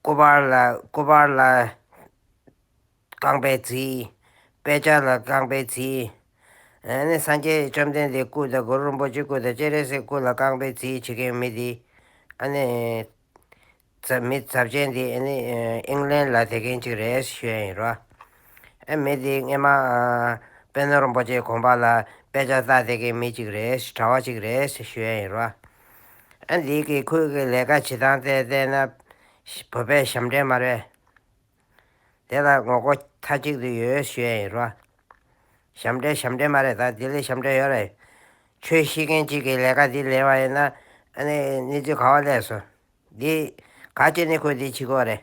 སྐུ་པར་ལ་སྐུ་པར་ལ་རྐང་པའི་རྩིས། དཔེ་ཆ་ལ་རྐང་པའི་རྩིས། ཨེ་ནས་སངས་རྒྱས་བཅོམ་ལྡན་འདས་སྐུ་དང་གུ་རུ་རིན་པོ་ཆེ་སྐུ་དང་སྤྱན་རས་གཟིགས་སྐུ་ལ་རྐང་པའི་རྩིས་བྱེད་མཁན་མི་འདི། ཨ་ནི། ཚབ་མི་ཚབ་ཅན་འདི་ཨེ་ནི་ཨིང་ལན་ལ་དེ་མཁན་གཅིག་རེད་ཞུ་ཡ་ཡིན་རོ། ཨེ་མི་འདི་རྔེ་མ། དཔལ་ནོར་རིན་པོ་ཆེ་གོང་པ་ལ་དཔེ་ཆ་བལྟ་དེ་མཁན་མི་གཅིག་རེད་གྲྭ་བ་གཅིག་རེད་ཞུ་ཡ་ཡིན་རོ། འདི་གིས་ཁོས་གི་ལས་ཀ་བྱེད་སྟངས་བལྟས་བལྟས་ན། བོད་པའི་ཞབས་འདྲེན་མ་རེད། དེ་ལ་ངོ་རྒོལ་མཐའ་གཅིག་ཏུ་ཡོད་ཞུས་ཡས་རོ། ཞབས་འདྲེན་ཞབས་འདྲེན་མ་རེད་ད་ལྡི་ལི་ཞབས་འདྲེན་ཡོད་རེད། ཆོས་ཤེས་མཁན་གཅིག་གིས་ལས་ཀ་འདི་ལེན་བ་ཡིན་ན། ཨནི་གནས་ཚུལ་ག་བ་ལས་སོ། འདི། ག་ཅེ་ནི་ཁོས་འདི་བྱེད་དགོས་རེད།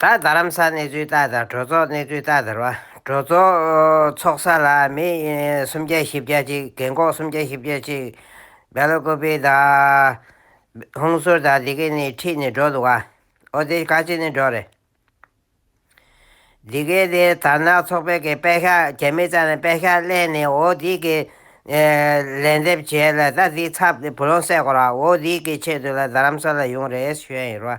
ད་རྡ་རམ་ས་གནས་ཚུལ་ལྟར་དང་གྲོས་ཚོགས་གནས་ཚུལ་ལྟར་ཟེར་བ་གྲོས་ཚོགས་ཚོགས་ས་ལ་མི་སུམ་བརྒྱ་བཞི་བརྒྱ་ཅིག་རྒན་ཁོག་སུམ་བརྒྱ་བཞི་བརྒྱ་ཅིག་སྦེ་ལོ་ཀོ་པི་དང། ཧུང་སུར་དང་འདི་གས་ནི་ཁྲིད་ནི་འགྲོ་འདུག་ག་ཨོ་དེ་ག་ཅིག་ནི་འགྲོ་རེད། འདི་གས་དེ་དར་ནག་ཚོགས་པའི་གི་པད་ཤག་རྒྱ་མི་ཙང་ནས་པད་ཤག་གླས་ནི་ཨོ་དེ་གི་ལན་འདེབས་བྱས་ལ་ད་དེ་ཚབ་བུ་ལོང་སད་གོ་ར་ཨོ་དེ་གི་ཆེད་དུ་ལ་རྡ་རམ་ས་ལ་ཡོང་རེད་ཞོན་ཡིར་བ།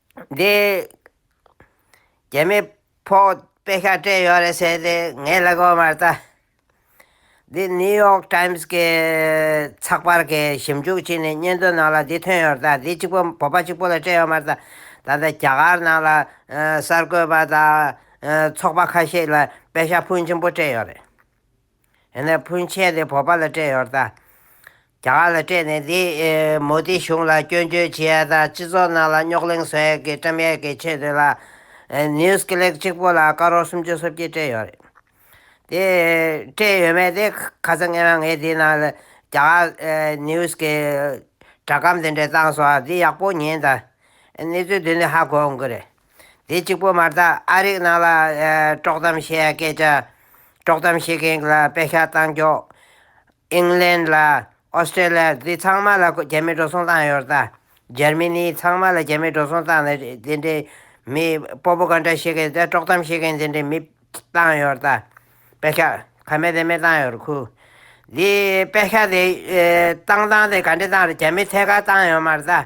འདི། རྒྱ་མི་ཕོག་དཔེ་ཁ་སྤྲད་ཡོད་རེད་ཟེར་ཏེ་ངའི་ལག་པ་མར་བལྟ། འདི New York Times གི་ཚགས་པར་གྱི་ཞིབ་འཇུག་ཅིག་ནས་སྙན་ཐོའི་ནང་ལ་འདི་ཐོན་ཡོད་རེད་བལྟ། འདི་གཅིག་པོ་བོད་པ་གཅིག་པོ་ལ་སྤྲད་ཡོད་མར་བལྟ། ད་ལྟ་རྒྱ་གར་ནང་ལ་གསར་འགོད་པ་དང་ཚོགས་པ་ཁ་ཤས་ལ་དཔེ་ཤ་ཕུན་ཆེན་པོ་སྤྲད་ཡོད་རེད། ཡང་ན་ཕུན་ཆད་དེ་བོད་པ་ལ་སྤྲད་ཡོང་དང། རྒྱ་གར་ལ་སྤྲད་ནས་དེ་མོ་དེའི་གཞུང་ལ་སྐྱོན་བརྗོད་བྱེད་ཡ་དང་སྤྱི་ཚོགས་ནང་ལ་རྙོག་གླེང་བཟོ་ཡ་གི་བཀྲམ་ཡ་གི་ཆེད་དུ་ལ། News Click གཅིག་པོ་ལ་ཀ་རོར་སུམ་ཅུ་སོ་བརྒྱད་སྤྲད་ཡོད་རེད། དེ་སྤྲད་ཡོད་མེད་དེ་ཁ་ཚ་ངེས་ན་ངས་དེའི་ནང་ལ་རྒྱ་གར News གི་སྒྲ་སྒམ་དེ་འདྲས་བཏང་སོང་བ་དེ་ཡག་པོ་ཉན་དང། གནས་ཚུལ་དེ་འདྲས་ཧ་གོ་ཡོང་གི་རེད། དེ་གཅིག་པོ་མ་གཏགས་ཨ་རིག་ནང་ལ་དཀྲོག་གཏམ་བཤད་ཡ་སྐད་ཆ་དཀྲོག་གཏམ་བཤད་མཁན་གྱི་ལ་དཔེ་ཤ་སྟག་འཇོག། England ལ Australia འདི་ཚང་མ་ལ་རྒྱ་མི་འགྲོ་སོང་བཏང་ཡོད་ད། Germany ཚང་མ་ལ་རྒྱ་མི་འགྲོ་སོང་བཏང་ནས་འདི་འདྲའི་མི Propaganda བཤད་མཁན་དེ་དཀྲོག་གཏམ་བཤད་མཁན་འདི་འདྲའི་མི་བཏང་ཡོད་ད། དཔེ་ཤ་ག་མེད་དེ་མེད་བཏང་ཡོད་ཁུ། འདི་དཔེ་ཤ་དེ་བཏང་བཏང་དེ་ག་འདྲས་བཏང་རེད་རྒྱ་མི་ཐད་ཀར་བཏང་ཡོད་མ་རེད་ད།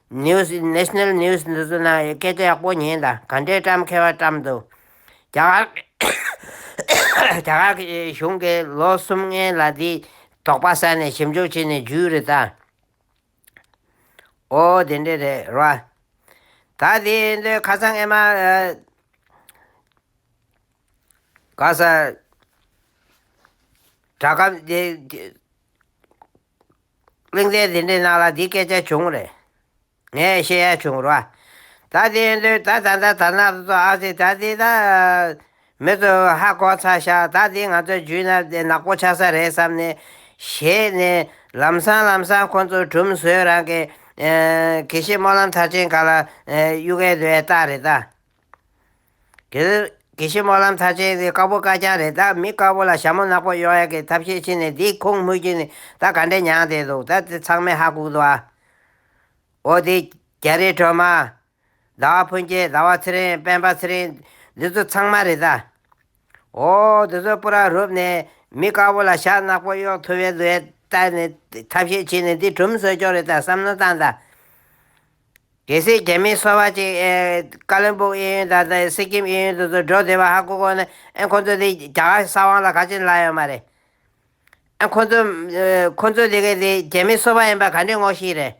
News International News འདི་ཚོ་ནང་ཡོད་སྐད་ཆ་ཡག་པོ་ཉན་དང་ག་འདྲའི་བཀྲམ་མཁས་བ་བཀྲམ་འདུག་རྒྱ་གར་རྒྱ་གར་གྱི་གཞུང་གིས་ལོ་གསུམ་ལྔའི་ལ་དེའི་དོགས་པ་བསལ་ནས་ཞིབ་འཇུག་བྱས་ནས་བརྒྱུད་རེད་ད། ཨོ་དེ་འདྲས་རེད་ར། ད་དེ་འདོད་ཁ་སང་ཨེ་མ། ག་ས། དྲ་སྐམ། གླིང་ཚའི་ཟིན་བྲིས་ནང་ལ་འདི་སྐད་ཆ་བྱུང་བ་རེད། ངས་ཤེས་ཡ་བྱུང་ར། ད་དེ་ཡིན་དུས་ད་ད་ད་ད་ནགས་ཚོ་ཨ་ཙི་ད་ཙི་ད། མི་ཚོ་ཧ་གོ་ཚ་ཤག་ད་དེ་ང་ཚོ་རྒྱུས་ན་དེ་ནག་པོ་ཆགས་ས་རེད་བསམ་ནས། བྱས་ནས་ལམ་སང་ལམ་སང་ཁོ་ཚོ་གྲུམ་བཟོས་རང་གི། གི་ཤི་སྨོན་ལམ་མཐར་ཕྱིན་ག་ལ་གཡུག་གས་ལོས་ལྟ་རེད་ད། དེ་ལོས་དགེ་བཤེས་སྨོན་ལམ་ཚར་ཆེན་དེ་དཀར་པོ་དཀར་རྐྱང་རེད་ད་མི་དཀར་པོ་ལ་ཞྭ་མོ་ནག་པོ་གཡོག་ཡག་གི་ཐབས་ཤེས་ཕྱིན་ནས་འདིའི་ཁུངས་དམུ་རྒྱུད་ནི་ད་ག་འདྲས་མྱངས་བསྡད་འདུག་ད་དེ་ཚང་མའི་ཧ་གུག་འདུག་ཨ། འོ་དེ་རྒྱ་རི་གྲོ་མ། ཟླ་བ་ཕུན་སྐྱིད་ཟླ་བ་ཚེ་རིང་སྤེན་པ་ཚེ་རིང་འདི་ཚོ་ཚང་མ་རེད་ད། འོ་འདི་ཚོའི་སྤུ་རག་རུབ་ནས་མི་དཀར་པོ་ལ་ཞྭ་ནག་པོ་གཡོག་ཐུབ་ཡས་འདུག་ཨེ་ད་ནི་ཐབས་ཤེས་ཕྱིན་ནས་འདི་གྲུམ་ཟོས་ཀྱོག་རེད་ད་བསམ་མནོ་བཏང་ད། གལ་སྲིད་རྒྱ་མིའི་སོ་བ་གཅིག་ཀ་ལོན་པུའུ་ཨེ་ཡོན་དང་སི་ཀིམ་ཨེ་ཡོན་དུ་ཚུར་འགྲོ་བདེ་བ་ཧ་གོ་གོ་ན་ཨེ་ཁོ་ཚོ་དེ་རྒྱ་གར་གྱི་ས་དབང་ལ་ག་ཅིག་བླ་ཡོད་མ་རེད། ཨེ་ཁོ་ཚོ་ཁོ་ཚོ་དེ་གའི་དེ་རྒྱ་མིའི་སོ་བ་ཡིན་པ་ག་འདྲའི་ངོ་ཤེས་རེད།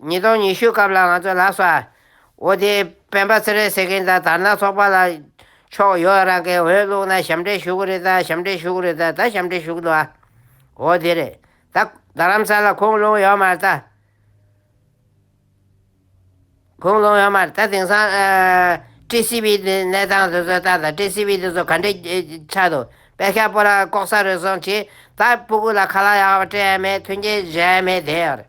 ཉིས་སྟོང་ཉི་ཤུའི་སྐབས་ལ་ང་ཚོས་ལགས་སོ། འོ་དེ་སྤེན་པ་ཚེ་རིང་ཟེར་མཁན་དང་དར་ནག་ཚོགས་པ་ལ་ཕྱོགས་ཡོད་རང་གིས་འོས་བླུགས་ན་ཞབས་འདྲེན་ཞུ་གི་རེད་ད་ཞབས་འདྲེན་ཞུ་གི་རེད་ད་ད་ཞབས་འདྲེན་ཞུ་གི་འདུག་ཨ། འོ་དེ་རེད་ད། རྡ་རམ་ས་ལ་ཁུངས་ལུང་ཡོད་མ་རེད་ད། ཁུངས་ལུང་ཡོད་མ་རེད་ད་དེང་སང། ཀྲི་སི་བྷི་དེ་གནས་སྟངས་དེ་ཚོའི་སྟངས་དང་ཀྲི་སི་བྷི་དེ་ཚོ་ག་འདྲའི་ཆགས་འདུག་པད་ཤག་སྤོ་ལ་ལྐོག་ཟ་རེ་ཟུང་བྱས་ད་སྤུ་གུ་ལ་ཁ་ལག་ཡག་པ་སྤྲད་ཡས་མེད་མཐུན་རྐྱེན་བཞག་ཡས་མེད་དེ་ཡོད་རེད།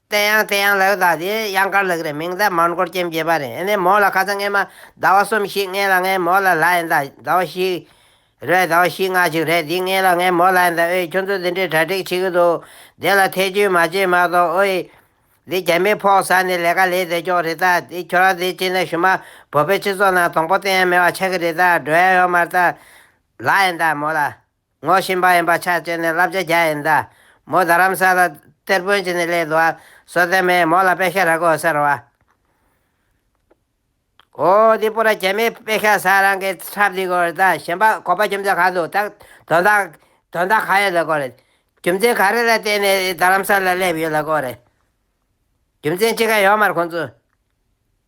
དེ་ཡང་དེ་ཡང་ལེའུ་དག་འདི་གཡང་དཀར་ལགས་རེད་མིང་བརྡ་མར་འགོར་རྐྱེན་བརྒྱད་པ་རེད་ཨནེ་མོ་ལ་ཁ་ཚ་ངན་མ་ཟླ་བ་གསུམ་ཞིག་ངན་ལ་ངན་མོ་ལ་ལྷ་ཡན་དག་ཟླ་བ་ཞིག་རེད་ཟླ་བ་བཞི་ལྔ་ཞིག་རེད་འདི་ངན་ལ་ངན་མོ་ལྷ་ཡན་དག་ཨོའི་ཁྱོད་ཚོ་འདི་འདྲའི་གྲ་སྒྲིག་བྱེད་གི་འདུག་དེ་ལ་ཐེ་ཇུས་མ་བྱེད་མ་གཏོགས་ཨོའི། འདི་རྒྱ་མིའི་ཕོག་ཟ་ནི་ལས་ཀ་ལས་བདེ་སྐྱོག་རེད་ད་འདི་ཁྱོད་རང་འདི་བྱེད་ན་ཞུ་མ་བོད་པའི་སྤྱི་ཚོགས་ནང་དོང་པོ་སྟེང་ཡང་མེ་བ་ཆག་གི་རེད་ད་འགྲོ་ཡ་ཡོ་མར་ད་ལྷ་ཡན་དག་མོ་ལ་ངོ་བཞིན་པ་ཡིན་པ་ཆ་བཅས་ནས་བསླབ་བྱ་བརྒྱ་ཡིན་ད། མོ་རྡ་རམ་ས་ལ་གཏེར་དཔོན་གྱི་ནི་ལས་དུ་བ་སོ་བསྟན་མས་མོ་ལ་པེ་ཤ་ར་གོ་ཟེར་བ། ཨོ་འདི་པོ་ར་རྒྱལ་མས་པེ་ཤ་ས་རང་གི་ཁྲབ་འདི་གོ་རེ་ད་གཞན་པ་གོ་པ་རྒྱུ་མཚན་གང་འདུག་ད་དོན་དག་དོན་དག་གང་ཡོད་ལ་གོ་རེ། རྒྱུ་མཚན་ག་རེ་ལ་བརྟེན་ནས་རྡ་རམ་ས་ལ་སླེབས་ཡོད་ལ་གོ་རེ། རྒྱུ་མཚན་ཅི་ག་ཡོད་མར་ཁོང་ཚོས།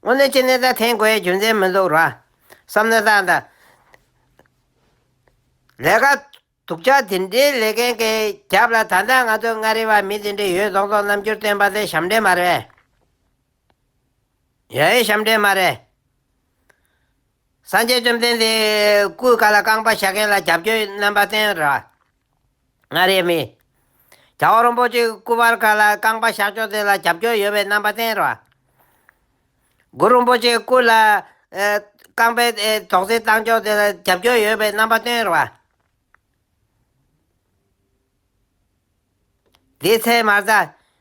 སྔོན་ནས་ཅི་ནས་ད་ཐེངས་དགོས་ཡའི་རྒྱུ་མཚན་མི་འདུག་ར། བསམ་ན་ད་ད། ལས་ཀ་དུག་ཅག་དེ་འདྲའི་ལས་མཁན་གྱི་རྒྱབ་ལ་ད་ལྟ་ང་ཚོའི་མངའ་རིས་བ་མི་དེ་འདྲའི་ཡོད་རྫོགས་རྫོགས་རྣམ་འགྱུར་སྟོན་པ་དེ་ཞབས་འདྲེན་མ་རེད། ཡའི་ཞབས་འདྲེན་མ་རེད། སངས་རྒྱས་བཅོམ་ལྡན་འདས་སྐུའི་བཀའ་ལ་རྐང་པ་བཞག་མཁན་ལ་རྒྱབ་སྐྱོར་རྣམ་པ་བསྟན་ར། ང་རེ་མི། རྒྱ་བོད་རོང་པོ་གཅིག་སྐུ་པར་ཁ་ལ་རྐང་པ་བཞག་ཆོག་དེ་ལ་རྒྱབ་སྐྱོར་ཡོད་པའི་རྣམ་པ་བསྟན་རོགས། དགུ་རོང་པོ་གཅིག་སྐུ་ལ་རྐང་པའི་དོགས་ཟིན་བཏང་ཆོག་དེ་ལ་རྒྱབ་སྐྱོར་ཡོད་པའི་རྣམ་པ་བསྟན་རོགས། དེའི་ཚེ་མར་ཟ།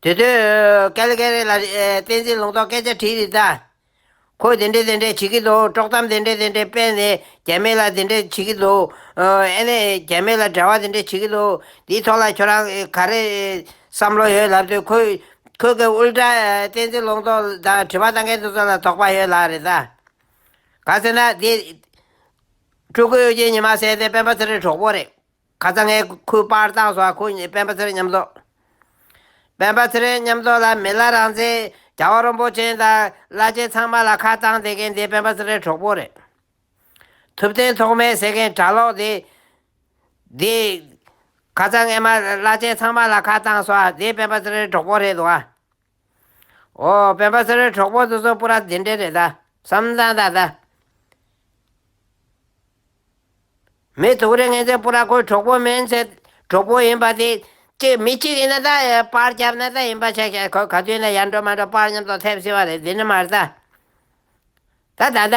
དེ་དུས་ཀ་ལི་ཀ་རེ་ལ་བསྟན་འཛིན་ལུང་རྟོགས་སྐད་ཆ་དྲིས་རིགས་དང། ཁོས་དེ་འདྲས་དེ་འདྲས་བྱེད་ཀྱི་འདུག་དཀྲོག་གཏམ་དེ་འདྲས་དེ་འདྲས་སྤེལ་ནས་རྒྱ་མི་ལ་དེ་འདྲས་བྱེད་ཀྱི་འདུག་ཨེ་ནས་རྒྱ་མི་ལ་འབྲེལ་བ་དེ་འདྲས་བྱེད་ཀྱི་འདུག་དེའི་ཐོག་ལ་ཁྱོད་རང་ག་རེ་བསམ་བློ་ཡོད་ལབ་དུས་ཁོས་ཁོས་ཀྱི་དབུལ་དྲག་བསྟན་འཛིན་ལུང་རྟོགས་དང་དྲི་བ་གཏང་མཁན་དེ་ཚོ་ལ་དོགས་པ་ཡོད་ལ་རེད་ད། ག་ཟེར་ན་དེ། སྤྲུལ་སྐུ་གཡོ་སྒྱུའི་ཉི་མ་ཟེར་དེ་སྤེན་པ་ཚེ་རིང་གྲོགས་པོ་རེད། ཁ་ཚ་ངའི་ཁུར་པར་བཏང་སོང་ཁོ་གཉིས་སྤེན་པ་ཚེ་རིང་མཉམ་རྫོགས། སྤེན་པ་ཚེ་རིང་མཉམ་རྫོགས་ལ་མི་ལ་རང་བཙན་རྒྱ་བ་རོན་པོ་ཅན་དང་བླ་ཆེན་ཚང་མ་ལ་ཁ་བཏང་བསྡད་མཁན་དེ་སྤེན་པ་ཚེ་རིང་གྲོགས་པོ་རེད། ཐུབ་བསྟན་ཐོག་མའི་ཟེར་མཁན་གྲྭ་ལོག་དེ། དེ། ཁ་ཚ་ངའི་མ་བླ་ཆེན་ཚང་མ་ལ་ཁ་བཏང་སོང་དེ་སྤེན་པ་ཚེ་རིང་གྲོགས་པོ་རེད་དོ་ཨ། ཨོ་སྤེན་པ་ཟེར་བའི་གྲོགས་པོ་ཚོ་ཚོ་པུ་ར་འདི་འདྲས་རེད་ད་བསམ་བཟང་ད་ད། མི་དུག་རེད་ངེད་ཚོའི་པུ་ར་ཁོའི་གྲོགས་པོ་མིན་ཚེ་གྲོགས་པོ་ཡིན་པ་དེ་གཅིག་མི་གཅིག་ཡིན་ན་ད་པར་བརྒྱབ་ན་ད་ཡིན་པ་ཆགས་ཆགས་ཁོས་ག་དུས་ན་ཡར་འགྲོ་མར་འགྲོ་པར་ཉམས་ཏོག་ཐེབས་སྲིད་པ་རེད་འདི་ནི་མ་རེད་ད། ད་ད་ད།